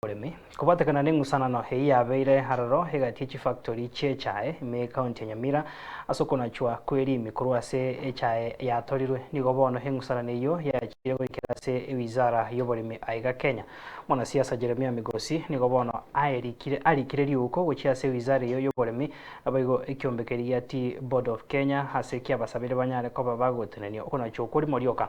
oboremi. Kobatekana neng'usanano eyio yabeire aroro egati yechifactori chi'echae ime ekaunti ya Nyamira, ase okonachwa kwerimi korwa ase echae yatorirwe, nigo bono eng'usanano eyio yachire goikera ase ewizara yoboremi aiga Kenya. Mwanasiasa Jeremia Migosi nigo bono aerikire arikire riuko gochia ase ewizara eyio yoboremi abaigo ekiombe keria tea Board of Kenya ase kiabasabire banyare koba bagotenenia okonachwa okwo rimo rioka.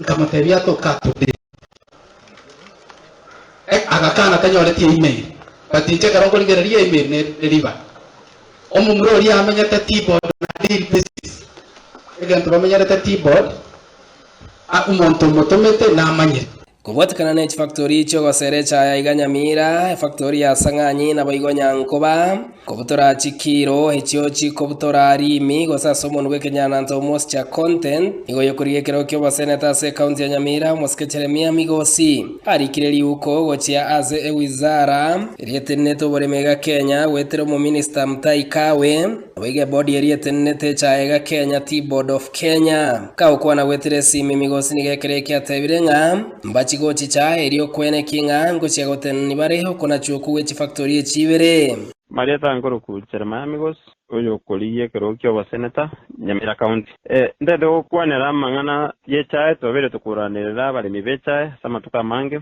Nkamotebia, Toka tode. Eh, agakana tanyoreti eimeri. But inche ekero nkorigereria eimeri ne riba. Omomura oria amenyete T-board na deal basis. Egento bamenyerete T-board, ah, omonto omotomete namanyire. Kobwatekana ne chifactori chi'ogosera echaya iga Nyamira, efactori ya Sang'anyi naboigo Nyankoba. Kobutora chikiiro echio chikobutora riimi gose ase omonu bw'ekenyananto omosia content nigo oyokorigia ekerogo ki'oboseneta ase ekaunti ya Nyamira omosike Jeremia Migosi arikire riuko gochia ase ewizara eria etenenete oboremi iga Kenya goetera omominista Mutahi Kagwe naboigo ebodi eria etenenete echaye iga Kenya Tea Board of Kenya. Kagokwana goetera esiimi Migosi nigo ekero ekiatebire ng'a Mbachi gochicha, erio kweneki ng'a ngochia gotenenani bare okonachwa okwo gwe chifactori echi ibere. Mariata nkoroku Jeremiah Migos, oyokorigia ekerogo ki'oboseneta Nyamira County. Ntaete gokwanera amang'ana y'echae, twabere tokoranerera abaremi b'echae ase amatuko amange.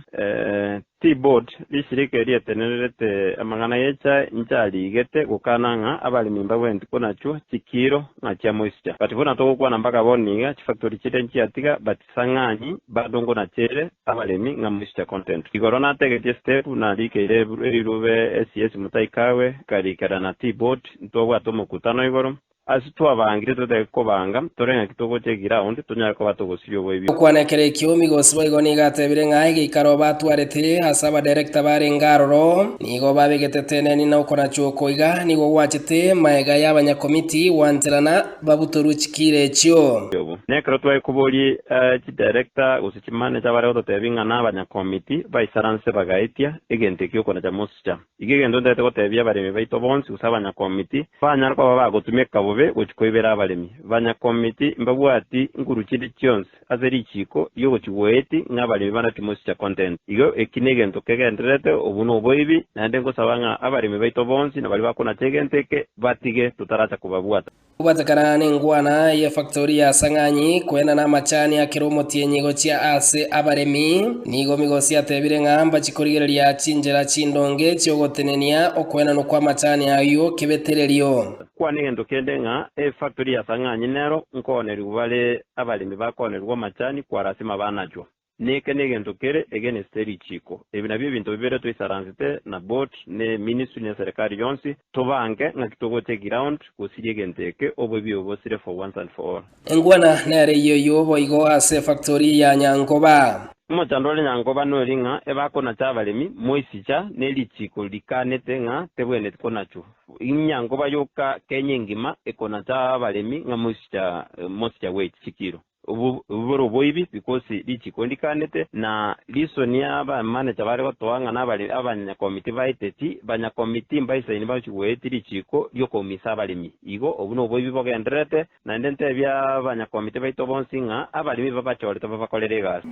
Tea Board, risirika erietenererete amang'ana y'echae, inche arigete gokana ng'a abaremi mbabwenereti konachwa chikiiro ng'a chiamoisicha. But buna togokwana mpaka bono niga chifactori chire nchiatiga but Sang'ani badongo na chere abaremi ng'a moische content. Igoro nategetie step narikeire erirube esiesi motaikawe nkarikera na tea board ntwabwate omokutano igoro ase twabangire totage kobanga tore ng'aki togocha eground tonyare koba togosiria oboibi. Okwana ekero ekio migosi boigo nigo atebire ng'a egeikaro batwarete ase abadirector barenge aroro nigo babegete teneni na okorachwa oko iga nigo gwachete maega y'abanyakomiti gwancherana babutorwe chikiira echio. Na ekero twaikoborie chidirekta gose chimanecha bare gototebia ng'a nabanyakomiti, baisaranse bagaetia egento ekio okonacha mosicha. Iga egento ntaete gotebia abaremi baito bonsi gose abanyakomiti banyare koba bagotumeka bobe gochia koibera abaremi. Banyakomiti mbabwati nguru chinde chionsi. Ase richiiko riogochigwa oeti ng'a abaremi bana timochicha content. Igo eki negento kegendererete, obo noboibi, naende ngosaba ng'a abaremi baito bonsi na baria bakonacha egento eke batige totaracha kobabwata. Gwatakana nengwana ye factori ya Sang'anyi kwenda namachani akere omotienyi gochia ase abaremi, nigo migosi atebire ng'a mbachi korigereria chinchera chindonge chiogotenenia okwenanwa kwamachani ayio kebetererio. Kwane egento kende ng'a efactori ya Sang'anyi nero nkoonerigwa bare Abaremi bakoonerigwa amachani kwa lasima banachwa. Neke negento kere egeneste richiiko. Ebi nabio ebinto bibere twaisaransete na board ne ministry ne serikali yonsi, tobange ng'aki togocha eground gosiria egento eke oboibi bobosire for once and for all. Engwana nere eyio eyio boigo ase efactori ya Nyankoba. Omochando ore Nyankoba nori ng'a ebakonacha abaremi moisicha ne richiiko rikanete ng'a tebwenereti konachwa. Inyango bayoka Kenya engima ekona ta abaremi ng'a mosicha mosicha bwe chisikiro obo bore oboibi because richiko ndikanete na reason ya aba manager bare gotoa ng'a na abare abanya committee baeteti banya committee mbaisaini bachi goeti richiko riokoumisa abaremi igo obu no oboibi bogendererete Naende ntebia abanyakomiti baito bonsi ng'a abaremi babachorete babakorere egasi.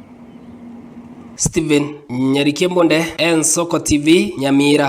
Steven nyarikia mbunde ensoko TV nyamira.